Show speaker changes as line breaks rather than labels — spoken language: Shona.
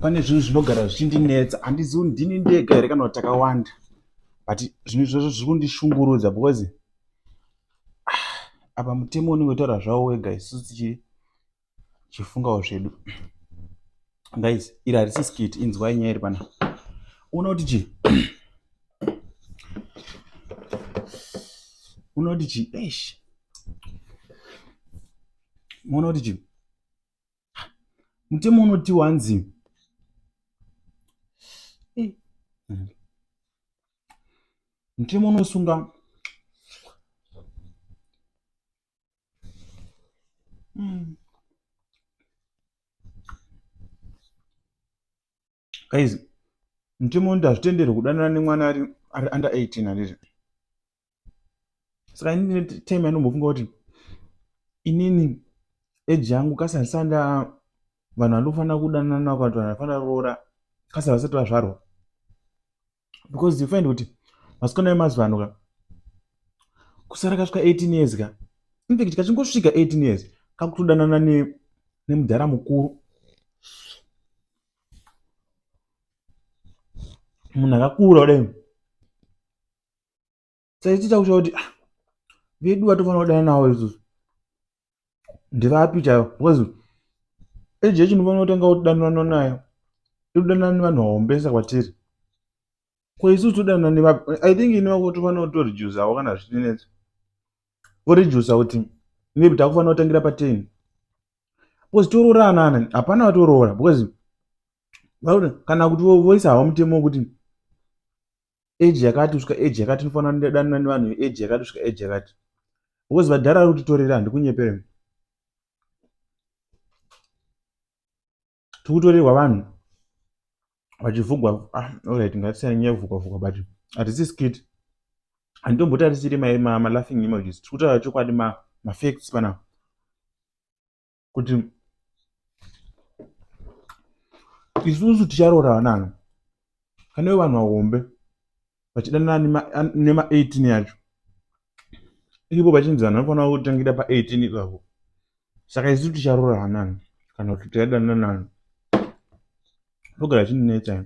pane zvinhu zvinogara zvichindinetsa handizivi kuti ndini ndega here kana kuti takawanda but zvinhu izvozvo zviri kundishungurudza because ah, apa mutemo unenge utaura zvavo wega isusu tichifungawo zvedu guys iri harisi skit inzwai nyaya iri pana uno kuti chii uno kuti chii eish muona kuti chii mutemo unoti wanzi mutemo unosunga mm. guys mutemo unoita hazvitenderwe kudanana nemwana ari ari under 18 handizvo saka ini ndine time yanombofunga kuti inini eji yangu kasi handisanda vanhu vandofanira kudanana navo kana kuti vanhu vanofanira roora kasi havasati vazvarwa because you find kuti vasikana vemazuva ano ka kusara kasvika 18 years ka infact kachingosvika 18 years kakutodanana nemudhara mukuru munhu akakura kudai saiti takushaya kuti ah, vedu vatofanira kudana nawo isusu ndivapi chaivo because eji yechi ndinofanira kutanga kudanana nayo inodanana nevanhu vahombesa kwatiri ko isusu todanana nevapi i think ini vako tofanira kutorijusawo kana zvitinetsa vorijusa kuti maybe takufanira kutangira pateni because toroorana anani hapana vatoroora because vakuti kana kuti voisa hawo mutemo wekuti age yakati kusvika age yakati inofanira ndidanana nevanhu veage yakati kusvika age yakati because vadhara vari kutitorera handikunyepere tiri kutorerwa vanhu vachivhugwa ah, orit ngatisiyana nyaya yekuvhugwa vhugwa but hatisi skit handitombotarisiri malaughing emojis tiri kutaura chokwadi mafacts panapa kuti isusu ticharoora vanani kana ivo vanhu vahombe vachidanana nema18 yacho ivo vachinzi vanhu vanofanira kutangira pa18 ivavo saka isusu ticharoora vanani kana kuti tichadanana nani ndogara chinonetsa